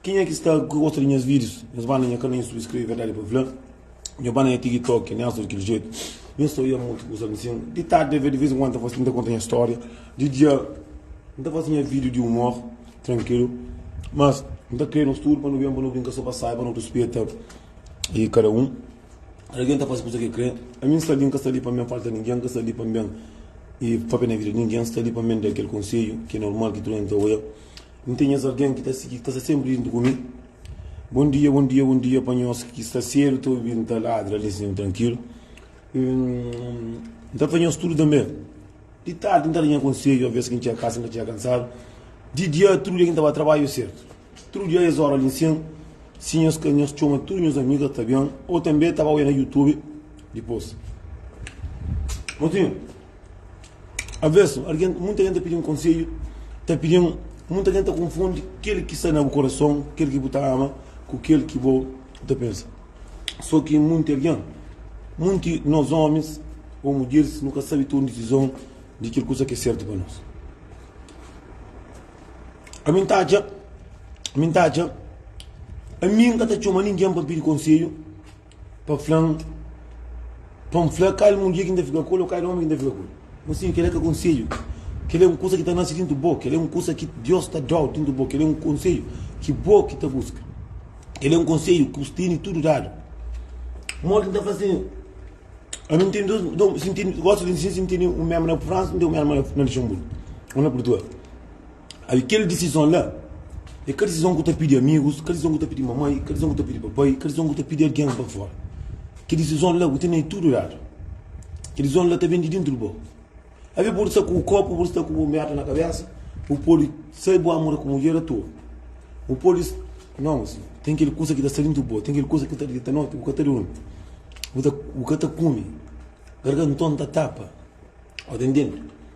Kenha ki sta ku gosta di nhas videos nhas banda nha kanal youtube skrebe verdadi pa fla nha banda nha tiktok nha sta di kel jeito nha sta oiá mutu kusa nsin di tardi di vez en kuando nta konta nha storia di dia nta fasi nha video di humor trankilu mas nta kre nos tudu pa nu ben pa nu brinka so pa sai pa nu rispeta e kada un kada algin ta fasi kusa ke kre ami nsta li nka sta li pa ben falta ningen nka sta li pa ben e papia na vida di ningen nsta li pa ben da kel konselhu ke normal ki tudu algin ta oiá. N ten nhas algen ki ta sigi, ki ta sta sénpri djuntu ku mi. Bon dia, bon dia, bon dia pa nhos ki sta sédu ta obi N ta ladra li sin trankilu. N ta fla nhos tudu tanbê. Di tardi N ta da nha konsedju alvês ki N txega kasa N ta txega kansadu. Di dia tudu dia ki N ta ba trabadju sértu. Tudu dia es óra li nsin si nhos ka nhos txoma tudu nhos amigu es ta ben ô tanbê ta ba oi na youtube dipôs. Motinhu. Avesu, munta algen ta pidi-m konsedju, ta pidi-m, munta algen ta konfundi kel ki sta na bu korason, kel ki bu ta ama, ku kel ki bo ta pensa. So ki munti algen, munti nos omis o mudjeris, nu ka sabe toma disizon di kel kusa ki é sertu pa nos. Ami N ta atxa, ami N ta atxa, ami N ka ta txoma ningen pa pidi konsedju, Pa fla-m, pa N fla kal mudjer ki N ta fika ku el ô kal ómi ki N ta fika ku el? Mosinhu, kel-la ka é konsedju. Kel-la é un kuza ki ta nase déntu bo. Kel-la é un kuza ki Deus ta da-u déntu bo. Kel-la é un konsedju ki bo ki ta buska. Kel-la é un konsedju ki bu tene tudu dadu. Modi ki N ta fla si ami N tene dôs, dôs, si N tene, gosi di fla si N tene un mérma na Fransa, N tene un mérma na Luxenburgu ô na Purtugal. Abi kel disizon la é ka disizon ku ta pidi amigus, ka disizon ku ta pidi mamai, ka disizon ku ta pidi papai, ka disizon ku ta pidi algen pa fora. Kel disizon la bu ten el tudu ladu. Kel disizon la ta ben di dentru di bo. Abi bu pode sta ku bu korpu, bu pode sta ku bu merda na kabesa, bu pode sai bu amura ku mudjer atua, bu pode sta. Nau, ten kel kusa ki ta sta dentru di bo, ten kel kusa ki ta dita noti bu ka ta durmi, bu ka ta kume, garganton ta tapa. Ô ta intende?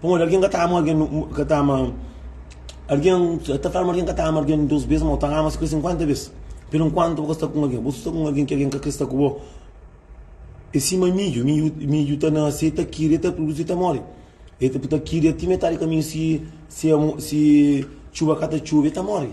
Pamodi algen ka ta ama algen ka ta ama algen ta fla ma algen ka ta ama algen dos bes ma bu ta ama si kre sinkuenta bes pero enkuantu bu ka sta ku algen bu sta ku algen ki algen ka kre sta ku bo e sima midju midju ta nase ta kiri ta produzi ta mori e ta kiri ti metadi di kaminhu si si txuba ka ta txuba e ta mori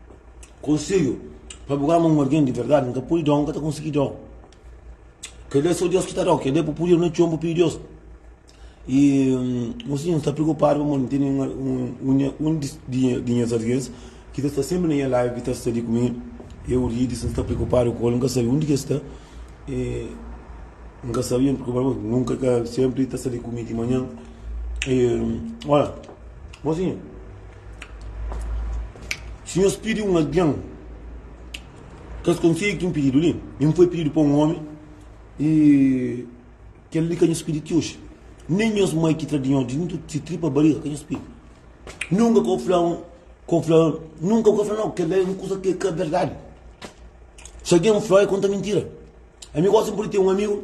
Konselhu, Pa bu ama un algen di verdadi, N ka pode da-u, N ka ta konsigi da-u. Kel-li é sô Deus ki ta da-u, kel-li é bu puder na txon bu pidi Deus. I mosinhu N sta preokupadu pamodi N tene un di nhas algens ki ta sta sénpri na nha ladu, ki ta sta li ku mi. Eu, Urides, N sta preokupadu ku el, N ka sabe undi ki el sta. N ka sabe, N preokupadu pamodi nunka ka el sénpri ta sta li ku mi di manhan. Ola, mosinhu! Si nhos pidi un algen kes konseiu ki N pididu li, N foi pididu pa un ómi, i kel li ka nhos pidi ti oji, nen nhos mai ki tra di nhos dintu di se tripa bariga ka nhos pidi. Nunka ka bu fla ka bu fla nunka bu ka fla nau, kel la é un kuza ki ka berdadi. Si algen fla, é konta mintira. Ami gosi N pode ten un amigu.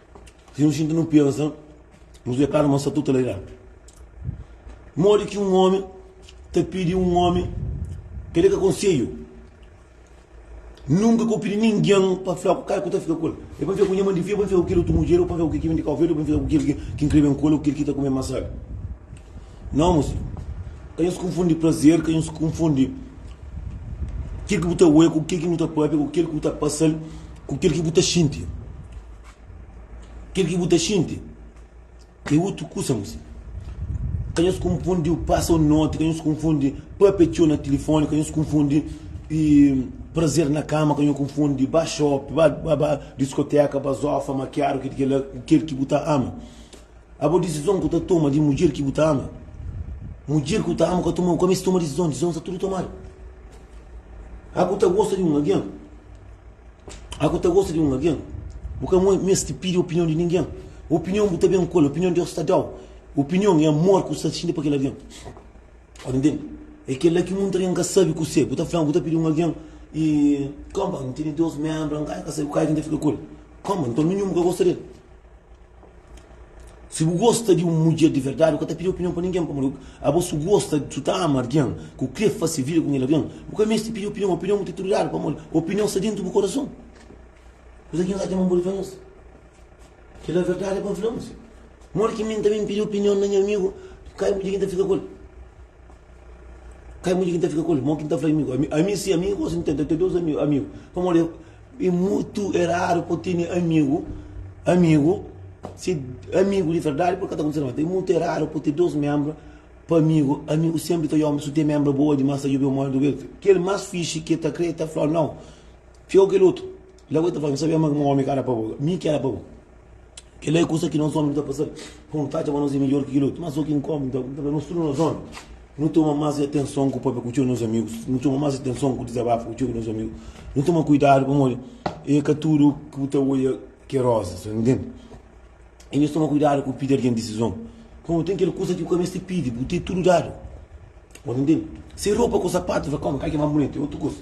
Si nu xinti nu pensa, nu deklara ma sa tutu la irá. Modi ki un ómi ta pidi un ómi pa deka konselhu? Nunka ka pidi ningen pa fla ku kai ku ta fika ku el. El pode fika ku nha mandi fia, pode fika ku kel otu mudjer, pode fika ku kel ki bende Kau Verdi, pode fika ku kel ki krê ben ku el ô kel ki ta kume masada. Nau, mô sidju. Ka nhos konfundi prazer, ka nhos konfundi kel ki bu ta oja ku kel ki bu ta pâpia, ku kel ki bu ta pasa-l. ku kel ki bu ta xinti. Kel ki bu ta xinti é otu kusa, mô senhor. Ka nhos konfundi o pasa o noti, ka nhos konfundi papia txeu na tilifoni, ka nhos konfundi prazer na kama, ka nhos konfundi ba xopi, ba diskoteka, ba zofa, makiadu, kel ki kel la, ku kel ki bu ta ama. Abo disizon ku ta toma di mudjer ki bu ta ama. Mudjer ku ta ama ka toma, ka meste toma disizon, disizon sta tudu tomadu. Abo ta gosta di un algen. Aku ta gosta di un algen, bu ka meste pidi opinion di ningen. Opinion bu ta ben ku el, opinion Deus ta dau. Opinion é amor ku sta xinti pa kel algen. Ora ntende? É kela ki munta algen ka sabi ku se. Bu ta fla, bu ta pidi un algen i koma, n tene dos menbra, n ka sabi kal ki n ta fika ku el. Koma, nton mi minhu bu ka gosta di el. Si bu gosta di un mudjer di verdadi, bu ka ta pidi opinion pa ningen. Pamodi abo si bu gosta, si bu ta ama algen, ki bu krê fase vida ku kel algen, bu ka meste pidi opinion. Opinion bu ta tudu ladu, pamodi opinion sta déntu bu korason. Kuza ki N atxa ma N pode fla nhos, kel la é verdadi pa N fla nhos. Modi ki mi tanbê N pidi opinion na nha amigu, ka é mudjer ki N ta fika ku el. Ka é mudjer ki N ta fika ku el. Mo ki N ta fla amigu, ami si ami gosi N ten ta ten dôs amigu, pamodi. É mutu é raru pa tene amigu amigu se amigu di verdadi pode ka ta kontise na mata é mutu é raru pa ten dos membra pa amigu amigu senpri ta yoma su ten membra boa dimas ta jubi un modi duga el kel mas fixi ke ta kre ta fla nau fia o kel otu la bo e ta fla mi sabia ma ki un omi ka era pa bo mi ki era pa bo. Kel-la é kusa ki nos ómi nu ta pasa pa un fadja ma nos é midjór ki kel-otu. Má sô ki un kónta nu ta konta fla, Nos tudu nos ómi nu toma más atenson ku pâpia ku txeu di nos amigus. Nu toma más atenson ku dizabafa ku txeu di nos amigus. Nu toma kuidadu pamodi é ka tudu ki bu ta odja ki é rózas, ta intende? I nhos toma kuidadu ku pidi algen disizon, pamodi ten kel kusa ki bu ka meste pidi, bu ten tudu dadu. Bu ta intende? Se é ropa ku sapatu, nu fla, Kau, kal ki é más bunitu? É otu kusa.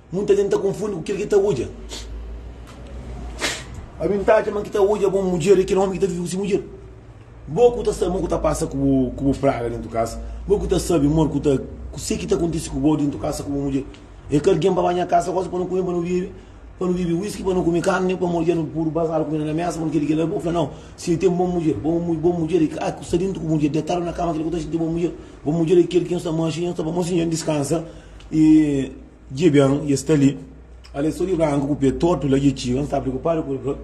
Munta jenti ta konfundi ku kil ki ta odja. Ami N ta atxa ma ki ta odja bo mudjer é kel omi ki ta vive ku si mudjer. Bo ku ta sabe ma ku ta pasa ku bo praga dentu kas, bo ku ta sabe mor ku ta ku se ki ta kontisi ku bo dentu kasa ku bo mudjer. É ka algen pa ba nha kasa gosi pa nu kume, pa nu bebe, pa nu bebe whisky, pa nu kume karni, pamodi dja nu pudu bazadu kumida na mesa, pa nu kel-li kel-la. Bo fla, Nau, si, ten bo mudjer. Bo bo mudjer é kel ki sta dentu ku bo mudjer, detadu na kama, kel ki ta xinti bo mudjer. Bo mudjer é kel ki nhos ta manxa i nhos ta ba, mosi, dja N diskansa i. Dje ben e sta li. Al e so di branku ku pe tortu la dje txiga. N sta preokupadu ku el pa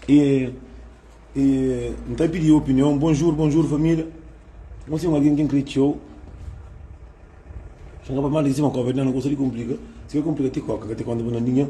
e e N ta pidi opinion. Bonjur, bonjur família. Nós tem alguém que crê teu. Xanga pa manda em cima copa, não gosta de complica. Se quer complica, te coca, te conta para nadinha.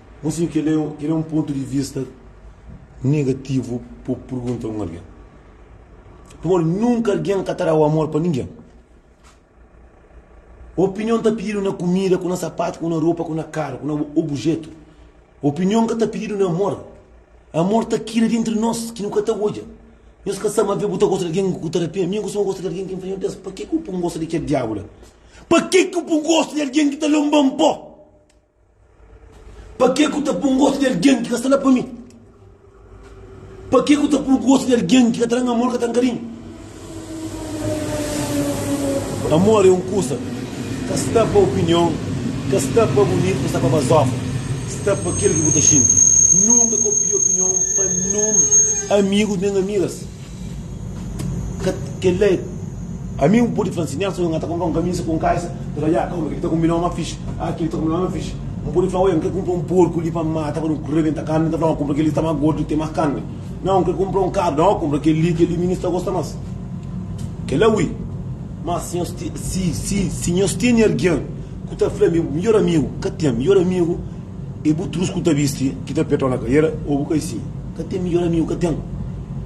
Bon si kel é un pontu di vista negativu pa bu pergunta un algen. Pamodi nunka algen ka ta da-u amor pa ningen. Opinion ta pididu na kumida, ku na sapatu, ku na ropa, ku na karu, ku na obujetu. Opinion ka ta pididu na amor. Amor ta kila di entri nos ki nu ka ta odja. Nhos ka sta mabê bu ta gosta di algen ku ta da pena. Mi N kustuma gosta di algen ki N fla, Nhu Deus, pakê ki bu pô-m gosta di kel diabu la? Pakê ki bu pô-m gosta di algen ki ta lonba-m pô? Pa ke ku ta pun gostu di algen ki ka sta la pa mi? Pa ke ku ta pun gostu di algen ki ka tra-m amor, ka tra-m karinhu? Amor e un kusa ka sta pa opinion, ka sta pa bunitu, ka sta pa bazoka. Sta pa kel ki bu ta xinti. Nunka kopia opinion pa nen amigus nen amigas. Ka, kel-la é. Ami N pode fla-l si, Nelson, nha ta kunpra un kamisa ku un kaisa. N ta fla-l, Ya, kauma, kel-li ta kunbinau más fixi. Ah, kel-li ta kunbinau más fixi. N pode fla-l, Oia, N krê kunpra un porku li pa N mata, pa nu rebenta karni. El ta fla, Nau, kunpra kel-li, sta más gordu i ten más karni. Nau, N krê kunpra un karu. Nau, kunpra kel-li, kel-li minha sta gosta más. Kel-la ui. Má si nhos, si, si, si nhos tene algen ku ta fla-m, Midjór amigu. Ka ten. Midjór amigu. É bu trus ku ta bisti, ki ta peta-u na kaiera? Ô bu kai si? Ka ten midjor amigu, ka ten.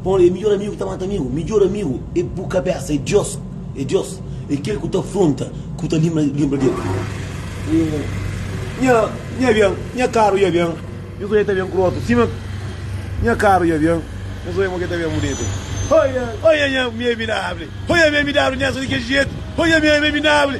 Pon li, é midjor amigu ki ta mata amigu. Midjor amigu é bu kabésa, é Diós, é Diós. É kel ku ta afronta, ku ta linbra, linbra di el. Ô, nha, nha ben, nha karu dja ben, nhos dói ta ben ku rotu sima ki. Nha karu dja ben, nhos dói mo ki ta ben bunitu. Oia, oia nha amiabinabli, oia amiabinabli, nha so di kel jetu, oia amiabinabli.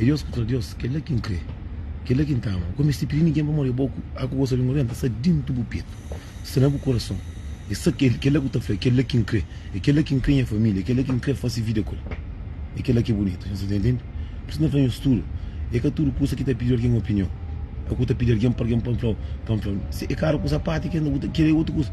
É Deus ku tra Deus, kel-la ki N kre, kel-la ki N ta ama. Ku N meste pidi ningen pa móre bo, a ku gosta di móre, N ta sta déntu bu petu, sta na bu kurason. É sa kel-la ku ta fla, É kel-la ki N kre, é kel-la ki N kre nha família, é kel-la ki N kre fase vida ku el, é kel-la ki é bunitu. Nhos ta ntende? Pur isu, N ta fla nhos tudu, é ka tudu kusa ki ta pidi algen opinion, a ku ta pidi algen pa algen pa N fla-u, pa N fla-u, é karu kusa pati, kenda ku ta kre é otu kusa.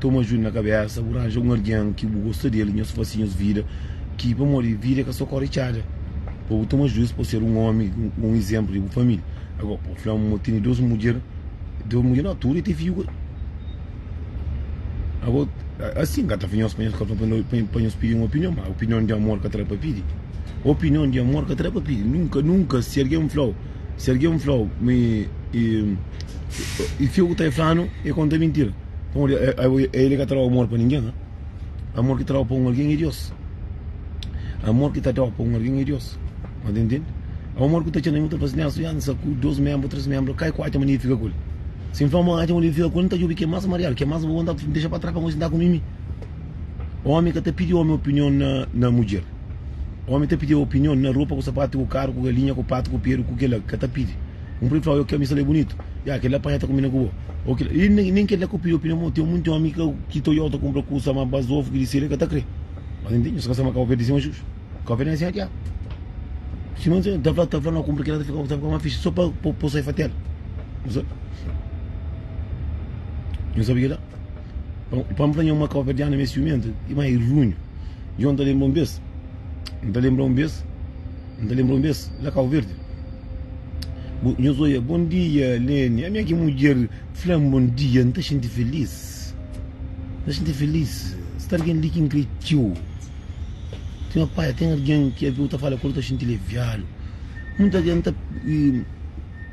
Toma judu na kabésa, bu ranja un algen ki bu gosta di el, nhos fase nhos vida, ki pamodi vida é ka so kóre txada, pa bu toma juiz, pa ser un ómi, un izénplu di bu família. Agora pa bu fla ma tene dos mudjer, dos mudjer nau, tudu é te fiju. Agora asin ka ta fla nhos pa nhos ka pa nhos pidi un opinion, ma opinion di amor ka ta da pa pidi, opinion di amor ka ta da pa pidi, nunka, nunka si algen flau, si algen flau mi i fia ku ta flanu, e konta mintira. Pamodi el é ka trau amor pa ningen. Amor ki trau pa un algen é Dios. Amor ki ta trau pa un algen é Dios. N ta intende? Amor ku ta txeu na mi ku ta fla si nhas fiansa ku dos menbru, tres menbru, kai ku atxa manera di fika ku el? Si N fla ma atxa manera di fika ku el, N ta djobe ke mas mariadu, ke mas bu konta bu dexa pa tras pa gosi N ta ku Mimi? Omi ka ta pidi omi opinion na mudjer. Omi ta pidi opinion na ropa ku sapatu ku karu ku galinha ku patu ku peru ku kila ka ta pidi. Un preta fla, Oi, kel misa la é bunitu. Ya, kel-li la panha ta konbina ku bo. Oi, kel-li. I nen, nen kel-la ka pidi opinion mau. Ten monti ómi ka ki ta odja-u, ta kunpra kusa má bas ovu ki di seli el ka ta krê. Mas nen ten nhos ka sta ma kau perde sima jus. Kau perde na sima ki-a. Sima nhos ta fla, ta fla na kunpra ki-la ta fika, ta fika más fixi sô pa po, po sai fatel. Nhos sa, nhos sabe ki-la? Pa, pa N fla nho ma kau perde ana ma é siumentu, i má é runhu. Djon ta lenbra un bes, N ta lenbra un bes, N ta lenbra un bes la Kau Verdi. Bu, nhos oia, Bom dia, Leni. Ami é ki mudjer fla-m bom dia, N ta xinti filís. N ta xinti filís. Sta algen li ki N krê txeu. Ten un pai, ten algen ki alvê bu ta fala ku el, bu ta xinti aliviadu. N ta, N ta,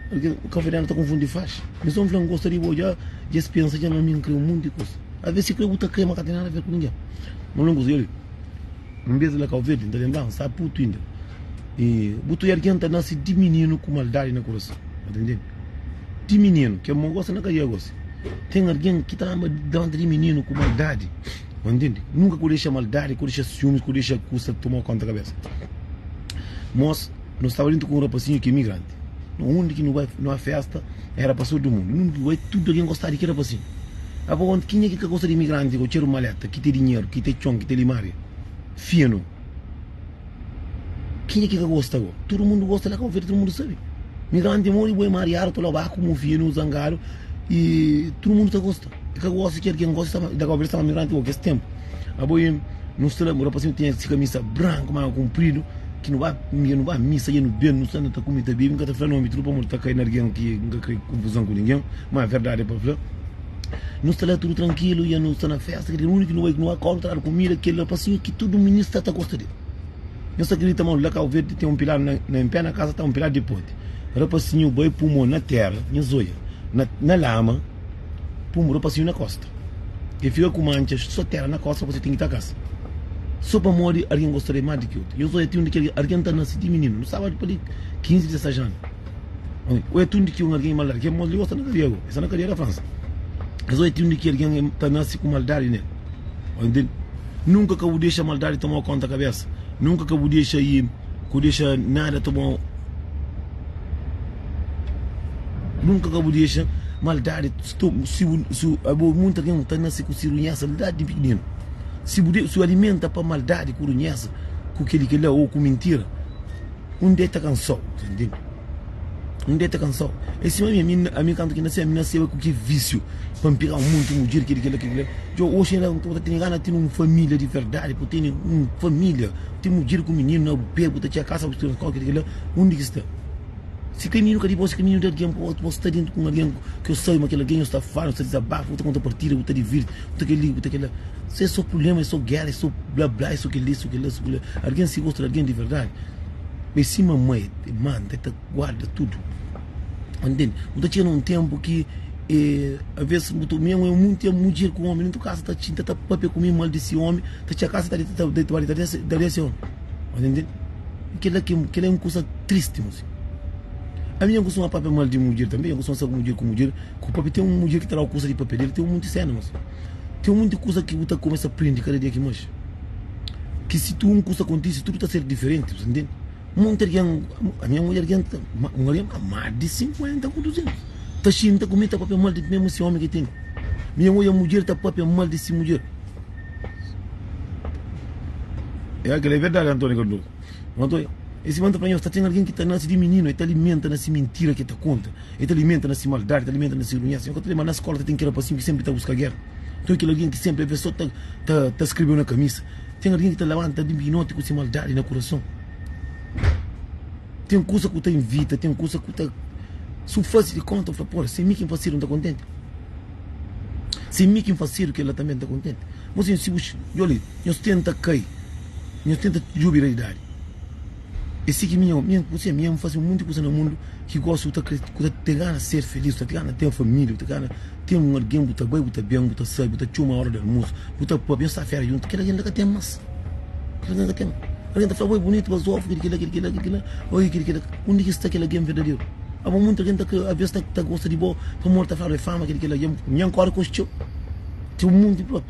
algen, kafeterianu ta konfundi faxa. Nhos sta-m fla N gosta di bo dja, dja es pensa dja ma mi N krê un monti kuza. Alvê si krê bu ta krê, ma ka ten nada a ver ku ningen. Má N gosta di el. Nbes di la kau verdi nta lenbra-m sta putu inda e bu ta oi algen nta nase di mininu ku maldadi na kurason na ta ntende di mininu ke mo gosi na ka dia gosi ten algen ki ta amba delante di mininu ku maldadi na ntende nunka ku dexa maldadi ku dexa siumis ku dexa kusa toma konta kabesa mos no staba dintu ku un rapasinhu ki migrante. undi ki nu bai nu a festa era pa sodi mundu undi ki bai tudu algen gosta di keda pa si a pa konta kinha ki ka gosta di imigranti ku txeru maleta ki te dinheru ki te txon ki te limaria finu kinha ki ka gosta bo tudu mundu gosta la kaba feta tudu mundu sabi migranti modi bo e mariadu ta loba ku mu finu zangadu i tudu mundu ta gosta e ka gosta ki algen gosta e ta ba e ta ba migranti o kes tenpu Abo i nu sta la, un rapazinhu ki tinha se kamisa branku, manga kunpridu, ki nu ba mia, nu ba misa, i nu ben, nu sta anda ta kume, ta bebe, N ka ta fla nómi, tudu pamodi ta kai na algen ki N ka krê konfuzon ku ningen, má verdadi pa fla, nu sta la tudu trankilu, i nu sta na fésta, krédu ki úniku ki nu bai, ki nu ba kóre, nu ta dadu kumida kel rapazinhu ki tudu mininu sta ta gosta di el. Nhos ta kridita ma la Kauverdi ten un piladu na na inpé, na kaza ta un piladu di poti. Rapazinhu bai pui mô na téra, nhos odja, na na lama. Pun ropasinhu na kosta E fika ku mantxas so tera na kosta Kuzê tingi ta kasa So pamodi argen gosta de ma di ki otu Yo so e ti un di ki argen Argen ta nasi ti mininu nu staba pa di kinzi dizesas anu Oi Oi e ti un di ki un argen i maldadi Kel moza li gosta na kadia Go e sta na kadia na Fransa Mas oi e ti un di ki argen e ta nasi ku maldadi nel Oi Nunka ka bu dexa maldadi toma konta kabesa Nunka ka bu dexa i. Ku dexa nada ta bom Nunka ka bu dexa maldadi Abo munta ken ku ta nase ku si runhesa la di pikininu Si bu si alimenta pa maldadi ku runhesa Ku keli ki la o ku mintira Un dia e ta kansau Un dia e ta kansau E sima mi ami ami kantu ki nase ami naseba ku ki visiu pa N pega un monti mudjer keli kila kila Djo oxi la N ka bu ta tene gana tene un familia di verdadi pa bu tene un familia Ti mudjer ku mininu na bu pé, bu ta txia kasa, bu tira kóki di kel-la. Undi ki sta? Si kel mininu ka di bo, si kel mininu di algen, bu ta sta déntu ku un algen ki N sabe ma kel algen, nhos ta fala, nhos ta dizabafa, bu ta konta partida, bu ta divirti, bu ta kel-li, bu ta kel-la. Sé é sô prubléma, é sô géra, é sô blá-blá, é sô kel-li, é sô kel-la, é sô kel-la. Algen si gosta di algen di verdadi, bai sima ma el manda, el ta guarda tudu. N tende. Bu ta txina un tenpu ki e aves bu ta. Mi e un tenpu mi mudjer ku un omi nuntu kasa ta txi, ta papia ku mi, maldisi omi, ta txia kasa ta ta deta bali ta daria se omi. Bu ta ntende? Kila ki, kila e un kusa tristi mos. Ami jan kustuma papia mal di mudjer tambi, jan kustuma sa ku mudjer ku mudjer ku papia. Ten un mudjer ki ta dau kusa di papia del, ten un monti sena mos. Ten un monti kusa ki bu ta kumesa prindi kada dia ki manxi. Ki si tu un kusa kontisi tudu ta ser diferenti. Bu ta ntende? Monti algen, a minha mulher algen ta, un algen ka más di 50 ku 200 ta xinta ku mi ta papia mal di mesmu si omi ki ten. Minha odja mudjer ta papia mal di si mudjer. Ya kel é verdadi Antónia Cardoso. Ô Antónia, es irman ta fla nhos ta ten algen ki ta nase di mininu e ta alimenta na si mintira ki e ta konta, e ta alimenta na si maldadi, ta alimenta na si runhesa. Nhos ka ta lembra na skola ta ten kel rapasinhu ki senpri ta buska géra? Nton, kel algen ki senpri avês so ta ta ta skrebew na kamisa. Ten algen ki ta labanta ben di noti ku se maldadi na kurason. Ten kusa ku ta ivita, ten kusa ku ta su fase di konta, fala, Pô, se mi ki N fasedu, N ta kontenti? Se mi ki N fasedu, kel la tanbê N ta kontenti? Nbos ten, si bu. Djobe li, nhos tenta kai, nhos tenta djobe realidadi. É si ki mi nha, mi nha, ku se, mi nha, mi fase un monti kusa na mundu ki gosi, bu ta kre, ku ta te gana ser feliz, bu ta te gana ten família, bu ta gana ten un algen bu ta bai, bu ta ben, bu ta sai, bu ta txoma óra di almosu, bu ta pâpia, nhos ta fera djuntu, kel algen la ka ten más, kel algen la ka ten más. Algen ta fla, bo é bunitu, bu é zofi, kel ki la, kel ki la, kel ki la, oi kel ki la, undi ki sta kel algen verdaderu? Abo monti algen ta kre, alvês ta gosta di bo pamodi ta fladu é fama, kel ki la, nha, nha kóre kos txeu, txeu monti.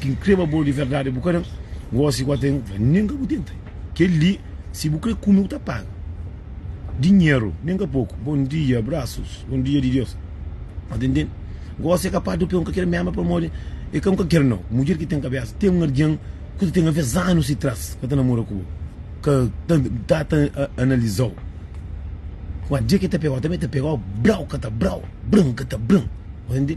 Ki N krê, ma bo di verdadi bu ka da-m gósi ku ata N ka nega bu tenta. Kel-li, si bu krê kume, bu ta paga. Dinheru, nen ka poku. Bon dia, abrasus. Bon dia di Deus. N ta ntende gósi é kapas di un peon ka kre-m ama pamodi e ka un ka kre-m. Nau, mudjer ki ten kabésa. Ten un algen ku ta ten alvês anus di tras ka ta namora ku bo, ka ta ta ta analiza-u. Má, dia ki el ta pega-u, el tanbê ta pega-u brau ka ta brau, bran ka ta bran. Bu ta ntende?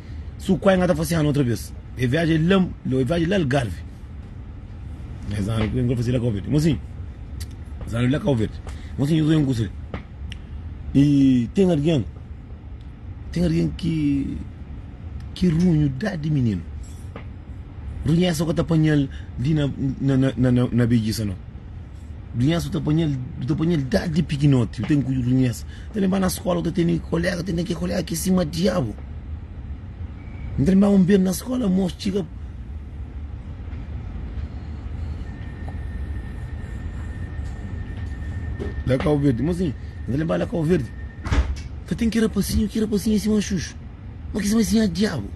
Su kuai nga ta fase anu otra bes. E viaji é la, e viaji é la Algarvi. Es anu ku nga fase la Kau Verdi. Mosinhu, es anu la Kau Verdi. Mosinhu Zué Nkusu li. E ten argen, ten argen ki ki runhu dadi mininu. Runhesa ka ta panha-l li na, na, na, na, na bedjisa no. Dunhas bu ta panhal, bu ta panhal dadi pikinoti, bu ten kuju dunhas, ta lenba na skola, bu ta tene kolega, tene ki kolega ki sima diabu, N ta lenbaba N ben na skola mos txiga, la kau verdi, mos txiga, N ta lenba la kau verdi, ta ten ki rapasinhu, ki rapasinhu sima xuxu, ma ki sima si nha diabu,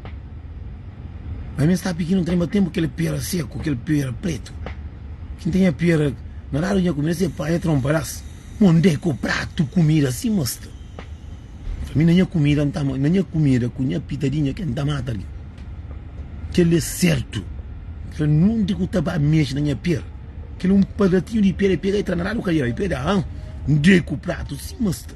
ma mi sta pikinu, N ta lenba tenpu kel pera seku, kel pera pretu. Ki ten nha pera na dadu nha kumida se panha tronpadas onde ku pratu kumida si ma sta pa mi na nha kumida nta na nha kumida ku nha pitadinha ke nta mata li kele sertu kila nunde ku ta ba mexe na nha pera kila un padatinhu di pera i pega i tra na dadu kadera i pega a nde ku pratu si ma sta.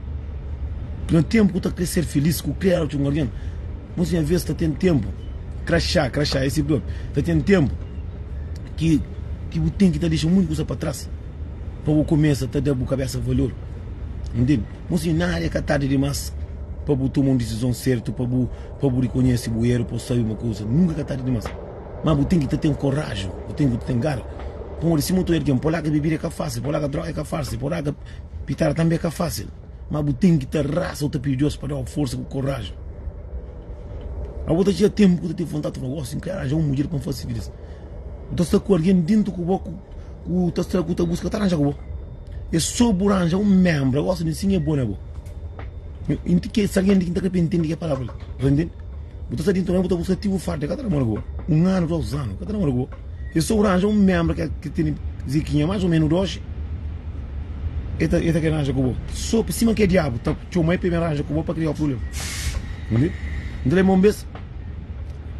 Na tenpu ku ta kre ser filís ku kre éra txon algen Nos nha vez ta ten tenpu Kraxá, kraxá, esi blo Ta ten tenpu ki ki bu ten ki ta dexa munti kusa pa tras Pa bu kumesa ta da bu kabesa valor Intende? Nos nha nada é ka tardi dimas Pa bu toma un disizon sertu Pa bu pa bu rikonhese bu eru pa bu sabe ma kusa Nunka ka tardi dimas Mas bu ten ki ta ten koraji Bu ten ki ta ten gara Pamodi sima tudu algen Polaga bebida é ka fasil Polaga droga é ka fasil Polaga. Pitar tanbe ka fasil, ma bu ten ki ta raza u ta pidi Dios pa dau forsa ku korajen. Ma bu ta txiga tempu ku ta ten vontadi ta fla, Gosi, N ka ranja un mudjer pa N fasi kilis. Bu ta sta ku algin dintu ku bo ku u ta sta ku ta buska ta ranja ku bo. E so bu ranja un membra gosi di nsin e bo na bo. N ti ke si algin di ki N ta kapia ntindi ke palabra li. Bu ta sta dintu na bo bu ta buska ti bu farda. Ka ta namora ku bo un anu, dos anu, ka ta namora ku bo. E sta uranja un membra ke ke tene zikinha mas o menu doxi e ta e ta kre ranja ku bo so pe sima ke diabu ta txoma e pe ben ranja ku bo pa kria prublema minde nta lembra un bes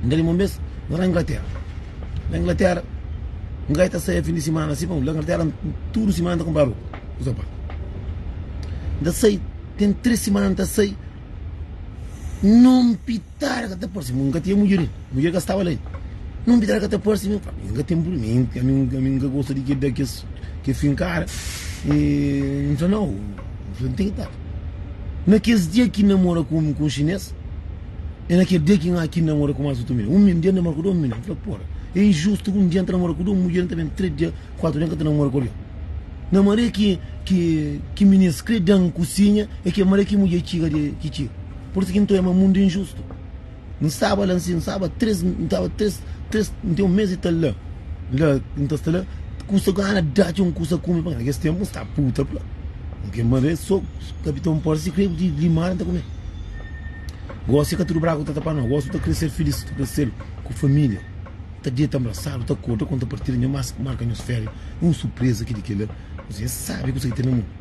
nta lembra un bes na la inglatera na inglatera un gai ta sae fin di simana si pamodi la inglatera tudu simana ta kunpra ropa ku sapat nta sai ten tres simana nta sai nunpit Tara ka ta parse-m, N ka tinha mudjer ainda, mudjer ka staba la ainda, Nun bi tara ka ta parse-m, N fla, N ka ten purmi, ami N ka gosta di keda kes ke fin kara, N fla, Nau, N fla, N ten ki tara. Na kes dia ki N namora ku un xinês, e na kel dia ki N ki namora ku más otu minda, un minda dia N namora ku dôs minda, N fla, Pora, e injustu ku un dia N ta namora ku dôs mudjer, N ta ben três dia, kuatu dia N ka ta namora ku algen. Na maria ki minês kre da-m kusinha, e ke maria ki mudjer txiga, ki txiga. Por ki nton é ma mundu é injustu? N staba la nsin, N staba três, N staba três, três, N ten un mês y tal la, la N ta sta la Kusa gana da txeu N kusa kume pa Na kes ténpu N sta puta pla N ke ma be so Kapitãu Port si krê ku ti limada N ta kume Gósi é ka tudu braku ta ta pa no Gósi bu ta krê ser filís Bu ta krê ser ku família Bu ta deta nbrasadu ta korda Konta partida nho mas marka nhos féria É un surpreza ki di kel-la Nhos é sábi kusa ki ten na mundu.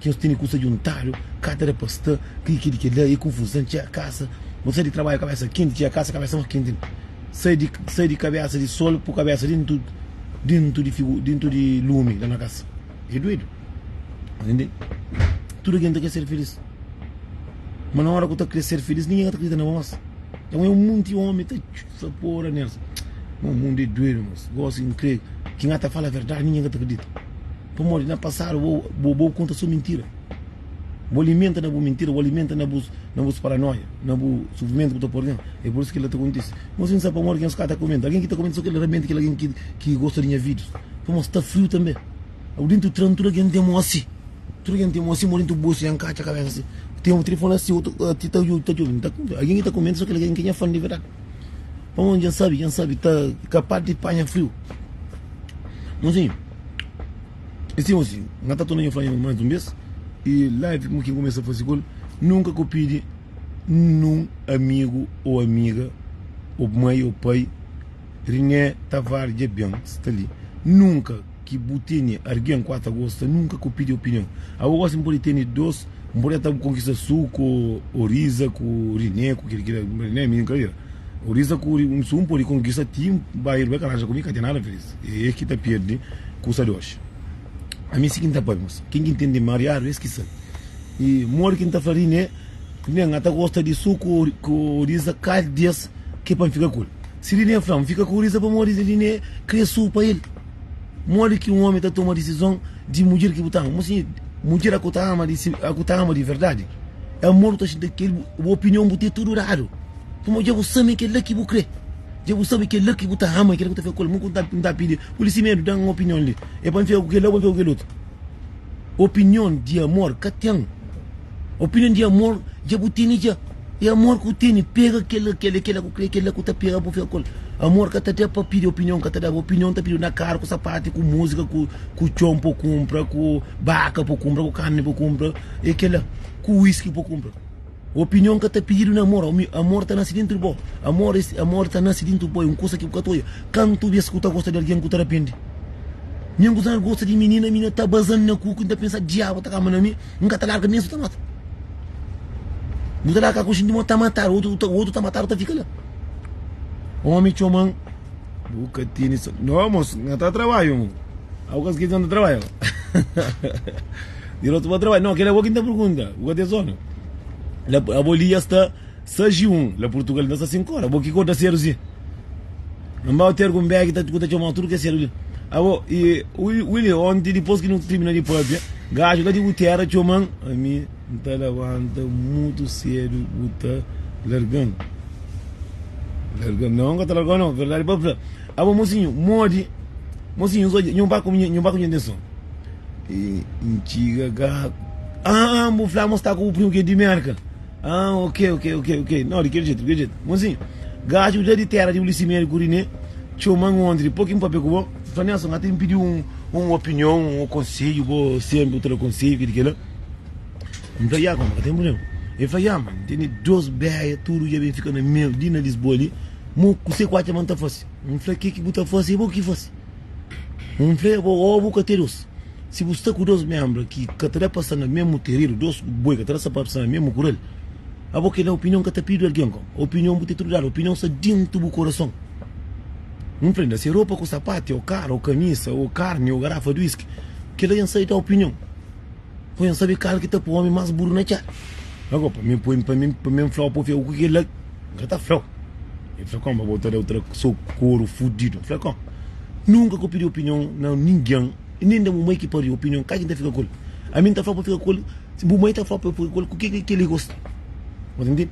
Ki ôs tene kusa djuntadu ka ta da pa sta kri ki di kel la e konfuzan txea kasa bo sai di trabadju kabesa kenti txea kasa kabesa ma kenti sai di sai di kabesa di sol pu kabesa dintu dintu di figu dintu di lumi la na kasa e duedu tende tudu algen ta kre ser feliz ma na ora ku ta kre ser feliz ningen ka ta kridita na bos e un monti omi ta. Sa pora Nelson. Mo mundo é doido moço. Gosi e n'crê ki n'ga ta fala verdade ninguém ka ta acredita. Pamodi na passado bo bo bo conta só mentira. Bo alimenta na bo mentira, bo alimenta na bos na bos paranoia, na bo sofrimento ki bo ta pôr dentro. É por isso ki kel la ta acontece. Mo sin sabe pamodi ki nhos ka ta comenta. Alguém ki ta comenta só kel la realmente kel alguém ki ki gosta di nha videos. Pamodi sta frio também. Abu dentu tran tuda gen tem osi tuda gen tem osi mo dentu bosi nha nkatxa kabesa si tem otu tri fola si otu ti ta ta jubi nta agen ki ta kumenta so kel agen ki nha fan di verdadi pamo gen sabi gen sabi ta kapaz di panha friu mon zinhu i si mon sinhu nha ta torna nha fla nha mais un bes i life mo kin kumesa fasi kul nunka ku pidi num amigu o amiga o mai o pai riné tavares dja ben sta li nunka. Ki bu tene argen 4 ta gosta nunka ku pidi opinion abo gosi npodi tene 2 npodi ata bu konkista su ku oriza ku rine ku kila kila rine minin ka ira oriza ku su npodi konkista ti nba ira bai ka laja ku mi ka ten nada felis e ki ta pierde kusa di oxi ami si ki nta pabi mas kin ki ntende mariadu es ki sabi i modi ki nta fla rine rine nga ta gosta di su ku oriza kal di es ki pa nfika ku el si rine fla nfika ku oriza pamodi rine kre su pa el. Modi ki un ómi ta toma disizon di mudjer ki bu ta ama? Mon sinhor, mudjer a ku ta ama di a ku ta ama di verdadi, amor bu ta xinti kel bu opinion bu ten tudu dadu. Pamodi dja bu sabe kel-la ki bu krê, dja bu sabe kel-la ki bu ta ama, kel-la ki bu ta fika ku el. Mon ku bu ta pidi, pui-l i si medu, da-m un opinion li, é pa N fika ku kel-la ô pa N fika ku kel otu? Opinion di amor ka ten Opinion di amor dja bu tene dja E amor ku tene pega kel la kel la kel la ku kre kel la ku ta pega bu fika ku el Amor ka ta da pa pidi opinion ka ta da Opinion ta pididu na karu ku sapatu ku musika ku ku txon pa bu kunpra ku baka pa bu kunpra ku karni pa bu kunpra e kel la ku whisky pa bu kunpra. Opinion ka ta pididu na amor, amor ta nase dentru bo, amor es amor ta nase dentru bo, é un kusa ki bu ka ta oja. Kantu bes ki bu ta gosta di algen ku ta rapende? Mi angu ta gosta di minina, minina ta baza-m na kuku, N ta pensa, diabu ta kaba na mi, N ka ta larga mésmu ta mata. Bu ta larga ku jinti ma ta mata-l, otu ta otu ta mata-l, bu ta fika la. Omi txoma-m, bu ka tene sa, no mosu, N ka ta trabadju, algu ka ta trabaja. Dirotu pa trabadju. No, kel la é bo ki N ta pergunta. Bu ka ten sonu? La abo li ya sta sais y un. La Purtugal li ta sta sinku ora. Bo ki kota sedu si? N ba oter ku un begi ku ta txomau tudu kes sedu li. Abo y Willie, onti dipos ki nu tirmina di papia, gaju la di bu tera txoma-m. Ami N ta labanta mutu sedu, bu ta larga-m? Larga-m? No, N ka ta larga-u no. Verdadi pa fla, abo mosinhu, modi? Mosinhu, N so dja. Nhu ba ku nha, nhu ba ku nha. N ten sonu. N txiga ka, Aa N bu fla ma N sta ku bu primu ki é di Mérka? Aa Ok, ok, ok, ok, no di kel djetu, di kel djetu Monzinho, gaxu dja di téra di Ulisimeri ku Riné txoma-m onti di pô ki N papia ku bo N fla, Nelson, ata N pidi un opinion, un konsedju bo sénpri bu ta da konsedju ki di kel-la N fla, Ya, kunba, ka ten prubléma El fla, Ya, ma N tene dôs béia tudu dja ben fika na mel li na Lisboa li Mo, kuse ku atxa ma N ta fase? N fla, Ke ki bu ta fase? Bo ki fase? Un nfrega ô bu ka ten dôs. Si bu sta ku dôs ménbra ki ka ta da pa sta na mésmu teridu, dôs boi ka ta da pa sta na mésmu kural, abo ki la opinion ka ta pidu algen. Opinion bu ten tudu ladu, opinion sta déntu bu korason. Un prenda se ropa ku sapati ô karu ô kamisa ô karni ô garafa di wiski, kel la N sai da opinion. Poi N sabe kal ki ta poi omi más buru na txá. Ago, pa mi, poi-m pa mi, pa mi N fla-u pa u fia-u ku kel-la. N ka ta fla-u. El fla, Kónba bo ta da-u tra so koru fudidu? N fla, Kon, nunka ka pidi opinion na ningen i nen da bu mai ki pariu opinion. Ka ki N ta fika ku el? Ami N ta fla-u pa fika ku el, si bu mai ta fla-u pa fika ku el, ku kel-la ki kel-li gosta. Bu ta ntende?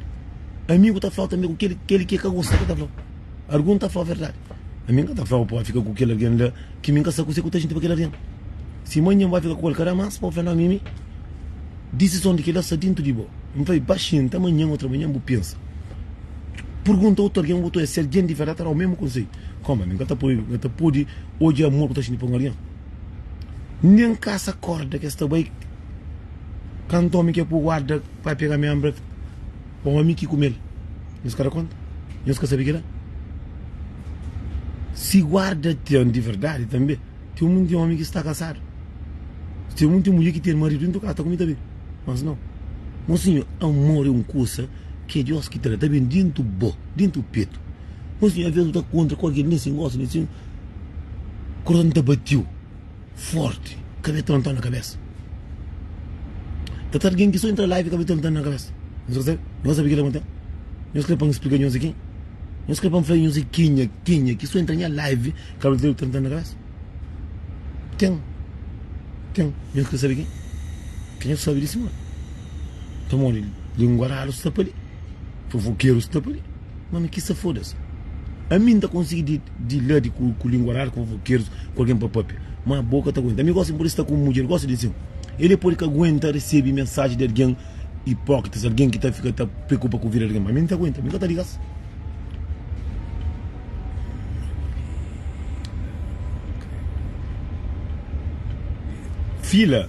Ami ku ta fla-u tanbê ku kel-li ki el ka gosta ki ta fla-u. Argun ta fla-u verdadi. Ami N ka ta fla-u pa fika ku kel algen la. Ki mi N ka sa kuse ku ta xinti pa kel algen. Si manhan N bai fika ku el, ka da más pa bu fla, Nau, Mimi, disison di kila sta dintu di bo. N fla-i baxinhu, Nta manhan ô otramanhan bu pensa. Pergunta otu algen, ô otu es. Si algen di verdadi ta da-u mésmu konseiu. Kóma? Mi N ka ta poi, N ka ta pode odja amor ku ta xinti pa un algen. Nen kasa kórda ki es ta bai. Kantu ómi ki é pô guarda bai pega-m i anbra-m. pa omi ki kume-l. Nhos ka da konta? Nhos ka sabe kila? Si guarda ten di verdadi, tanbe ten munti omi ki sta kasadu. Ten munti mulher ki ten maridu dentru di kasa ta kume tanbe. Mas nau, mon sinhor, amor é un kusa ki é Deus ki ta da, ta ben dentru bo, dentru petu. Mon sinhor, alvês bu ta kontra ku algen ki ben si, N gosta di si, korason ta bati-u. forti ka be tonton na kabesa ta ta algen ki so entra live ka be tonton na kabesa nhos ka sabe nhos ka sabe kila konta nhos kre pan splika nhos ki nhos kre pan fla nhos kinha kinha ki so entra nha live ka be tonton na kabesa ken ken nhos kre sabe ken ken nhos sabe di simon pamodi lingua ralu sta pali. Fofokeru sta pa li. Mano ki sa fodas. Ami nta konsigi di di la di ku lingua rara ku fofokerus ku algen pa papia. Ma bo ka ta aguenta. Ami gosta mi pudi sta ku un mudjer gosta di asin. El e pudi ka aguenta resebi mensaji di algen ipokritas, algen ki ta fika ta preokupa ku vida di algen. Ma ami nta aguenta. Mi ka ta ligas. Fila.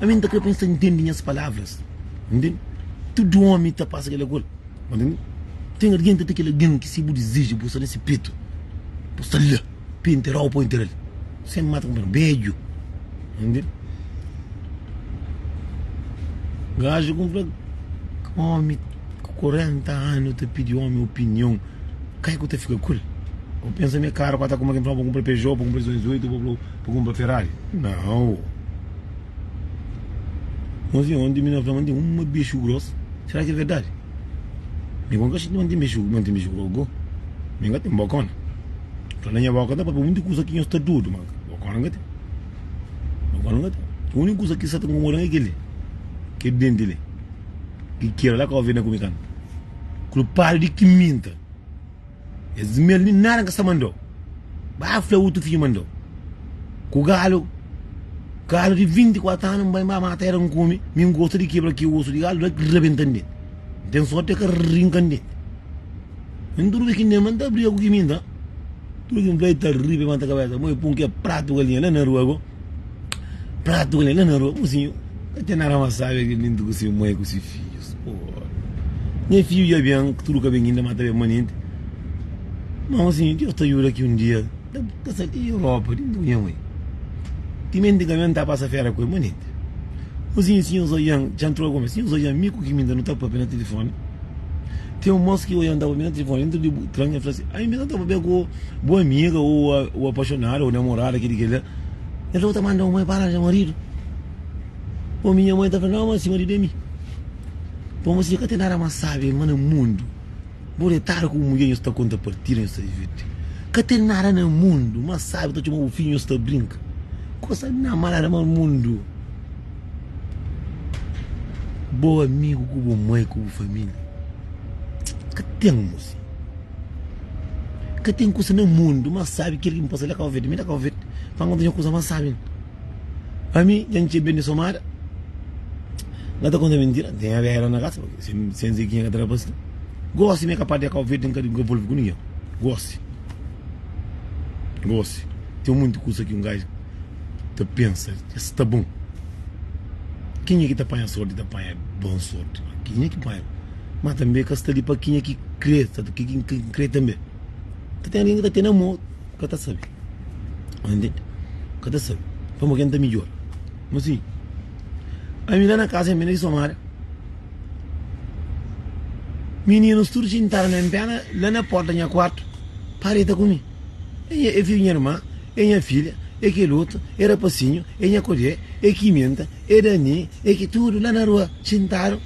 Ami nta kre pa nhos ta ntende nhas palavras. Ntende? Tudu omi ta pasa kel agora. Ntende? Ten argen ta ta kel agen ki si bu dizeja bu sta na se petu, bu sta la pa e nterau pa nteral. Sem mata kunpanheru bedju. Ntende? Gaju ku fla omi ku korenta anu ta pidi omi opinion, kai ku ta fika ku el? Bo pensa mi e karu ku ata kuma ki nfla-m pa kunpra Peugeot, pa kunpra 208, bo fla-u. Pa kunpra Ferrari? Nau. Nhozinha, onti mi na fla ma N ten uma bixu gros, sera ki é verdadi? Mi bo N ka xinti ma N ten bixu, ma N ten bixu gros go. Mi N ka ten bokona. Fla na nha boka ta papia monti kusa ki nhos ta dudu, ma bokona N ka ten. Bokona N ka ten. Uniku kusa ki sa ta nkomoda-m é kel-li, kel denti li, ki kera la ka obi na ku mi kanta. Kulpadu di ki minta! Es dizimel li nada ka sta mandó ba fla utu fidju mandó ku galu galu di 24 anu nbai nba mata era nkume mi ngosta di kebra ki osu di galu daki rabentan denti nten sorti ka rinkan denti kin tudu ki nba nta briga ku ki minta tudu kin fla e ta ri pa e manta kabesa mo e pun ke pratu galinha la na rua bo. Pratu k'el la na rua ku si el ten arama sabi el minti ku si mai ku si fijus oh nha fiju dja ben ku tudu ka ben inda ma ta ben manenti ma osi Deus ta juda ki un dia ta sai di Europa di unde ku nha mai timenti ka ben ta pasa fera ku el manenti osi si nhos odian dja ntrau ku mi si nhos odian mi ku ki mi nta nu ta papia na tilifoni ten un mos ki odian ta papia na tilifoni dentru di tren el fla si ai mi ta papia ku bu amiga u apaxonada u namorada kili kila Nton bu ta manda un moi pa aranja maridu? Omi, nha moi ta fla, Nau, ma si maridu é mi. Pamodi mos dja ka ten nada más sábi ma na mundu. Bu detadu ku bu mudjer, nhos ta konta partida, nhos ta divirti. Ka ten nada na mundu más sábi ta txoma bu fidju, nhos ta brinka. Gosta di nau, ma nada más mundu. Bo amigu ku bu moi ku bu família ka ten, mos. Ka ten kusa na mundu más sábi kel ki N pasa la Kau Verde. Mi ta Kau Verde, fala N ka ta odja kusa más sábi na. Pa mi, dja N txia bês di Somada. N ka ta konta mintira, N ten Avéra na kasa, sen Zeguinha ka ta rapá sin. Gósi, mi é kapaz di Kau Verde, N ka volve ku ningen. Gósi, gósi, ten monti kusa ki un gajo ta pensa, es sta bon? Kenha ki ta panha sorti ta panha bon sorti? Kenha ki panha. Má tanbê ka sta li pa kenha ki krê, sta pa kenha ki ka krê tanbê. Ka ten algen ki ta ten amor, ka ta sabe. Sta ntende? Ka ta sabe. Pamodi ke N ta midjora? Fala si, Ami la na kaza N bira di Somália, mininus tudu xintadu na pé la na pórta di nha kuartu pa reta ku mi. É fidju di nha irman, é nha fidja, é kel otu, é rapasinhu, é nha kudjé, é ki menta, é Dani, é ki. Tudu la na rua, xintadu.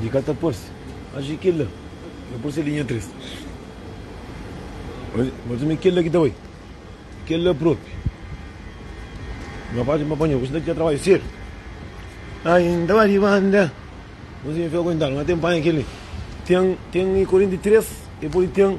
Di ka ta parse. Acha ki kel la ta parse ali nha tres. Mas ami kel la ki ta bai. Kel la propi. Nga fasi ma panha, ku si ta dja trabadja sedu. Ai, N ta ba di banda. Mas ami fia aguentadu. Nga ten panha kel li. Ten, ten i korenti tres, e poi ten.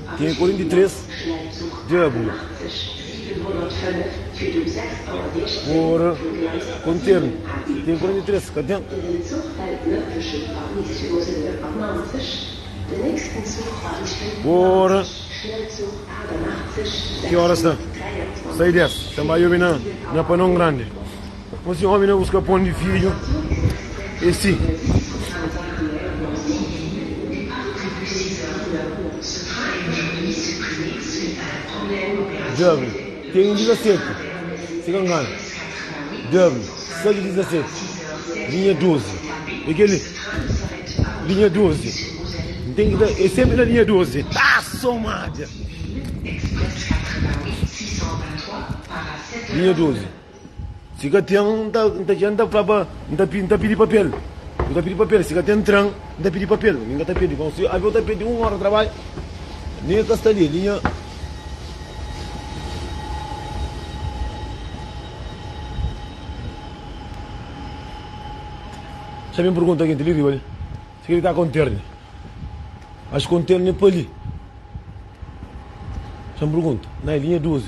Ten 43 djabu por konternu. Ten 43, ka ten? Por ki óras ta sai di es? Ten bai obi na Panon Grandi. Dipôs di ómi na buska pon di fidju, e si. Djobe, ten un dizasetu, si ka nganu. Djobe, sa di dizasetu, linha dozi. E kel-li, linha dozi. N ten ki ta. E sénpri na linha dozi. Linha dozi. Si ka ten, N ta dja, N ta fla pa, N ta pidi, N ta pidi papel, N ta pidi papel. Si ka ten tren, N ta pidi papel, mi N ka ta pedi. Bon, si avion ta pedi un óra trabadju, mi N ka sta li, li nha. Xa mi N pergunta kenti li riba li si kel ki ka konterne. Ax konterne pa li. Xa N pergunta, na e linha 12.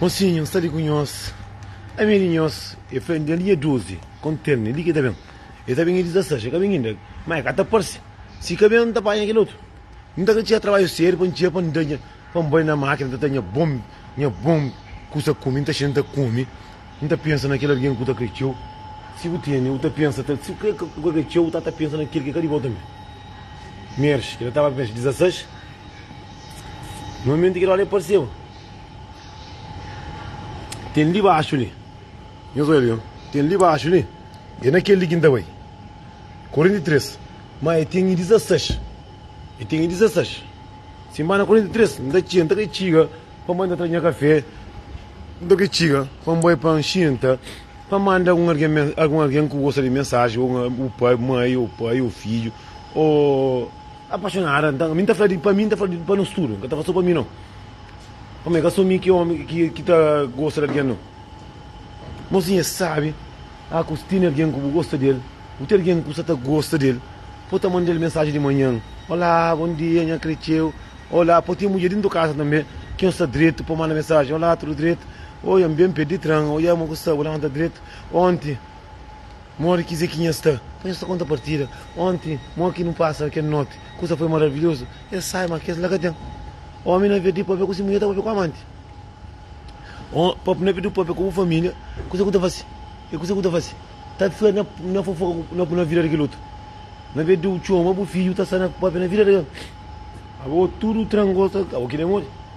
Mosinhu, N sta li ku nhos. Ami di nhos, el fla. N dja duzi konterni li ki ta ben. El ta ben edi ta saxa. Ka ben inda, ma el ka ta parse. Si ka ben, N ta panha kel otu. N ta ka txia trabadju sériu pa N txia, pa N bai na mákina ta ta nha bon, nha bon kusa kume. N ta xinta, N ta kume. N ta pensa na kel algen ku ta krê txeu. Si bu tene, bu ta pensa ta. Si bu krê ku ka krê txeu, bu ta ta pensa na kel ki ka di bo tanbê. Merxe, ki el ta ba merxe di 16. No momento ki Herodes apareceu, tem li baxo li, nhos oi li, tem li baxo li, é na kel li ki N ta bai. 43, Má el tinha 16, el tinha 16. Sin ba na 43, N ta txenta, N ta ka txiga pa manda tra nha kafé, N ta ka txiga pa N bai pa N xinta, pa N manda algun algen, algun algen ku gosta di mensaji, ô bu pai, mai, ô pai, ô fidju, ô. Apaxonada nta. Mi nta fla di pa mi, nta fla di pa nos tudu. Nka ta fla so pa mi no. Pamê ka so mi ki omi ki ta gosta di algen no. Mozinha sabi a ku si tene algen ku bu gosta di el, bu ten algen ku sa ta gosta di el, po ta manda el mensaji di manhan, Olá, bon dia, nha kretxeu. Olá, po ten mudjer dintu kasa tanbe ki nhos sta dretu po manda mensaji, Olá, tudu dretu? Oia, N ben pé di tran. Oia, mo ku sta bu lanta dretu onti? Modi ki Zekinha es sta? Pa nhos ta konta partida. Onti, mo ki nu pasa kel noti, kusa foi maravilhozu. Es sai, ma kes la ka ten. Omi na perdí pâpia ku si mudjer ta pâpia ku amanti. O, pâpia na perdí pâpia ku bu família. Kusa ku ta fase? E kusa ku ta fase? Ta fla na, na fofoka ku, na, na vida di kel otu. Na perdí u txoma bu fidju ta sta na pâpia na vida di kel. Abo tudu trangosa, abo ki da modi?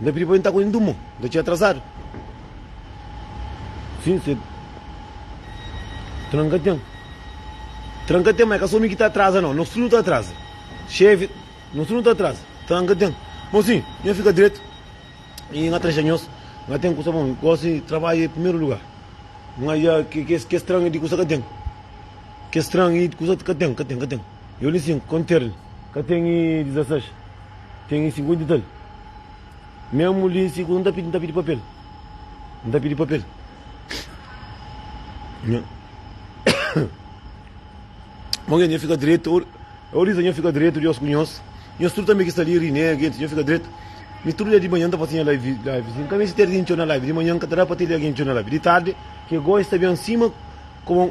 N ta pidi pa bu inta ku N durmu, N ta txeu atrasadu Sin sedu Tranka ten Tranka ten, ma é ka so mi ki ta atraza nau Nos tudu ta atraza Xevi, nos tudu ta atraza Tranka ten Bon si nha fika dretu i nha tra xanhos Nha ten kusa bon, gosi trabadju é primeru lugar Nha kes tranka di kusa ka ten Kes tranka di kusa ka ten, ka ten, ka ten. Eu li sin kon ter li. Ka ten i dizases ten i sin kon dital mesmu li si ku nta nta pidi papel nta pidi papel nha mon gen nha fika dretu eu eu riza nha fika dretu dios ku nhos nhos tudu tanbe ki sta li ri neg ent nha fika dretu mi tudu dia di manhan ta fasi nha live live si nka meste ter gen txeu na live di manhan nka ta da pa ter gen txeu na live di tarde ke goi sta ben sima koma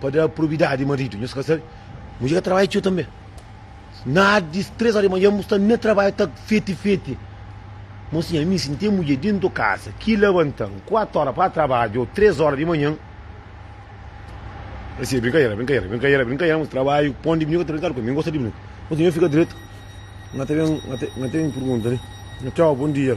Pa da probidadi di maridu, nhos ka sabe? Mudjer ka trabadja txeu tanbe. Na di três óra di manhan, bu sta na trabadju ta feti-feti. Mosinha, mi, si N ten mudjer dentu kasa ki labanta-m kuatu óra pa trabadju ô três óra di manhan, Esi é brinkadera, brinkadera, brinkadera, brinkadera, mos trabadju pon di brinka, ta brinkadu ku el. Mi N gosta di brinka. Mosinha, nhos fika dretu. N ka ta ben, N ka ta ben purgunta li. Nhos, txau, bon dia.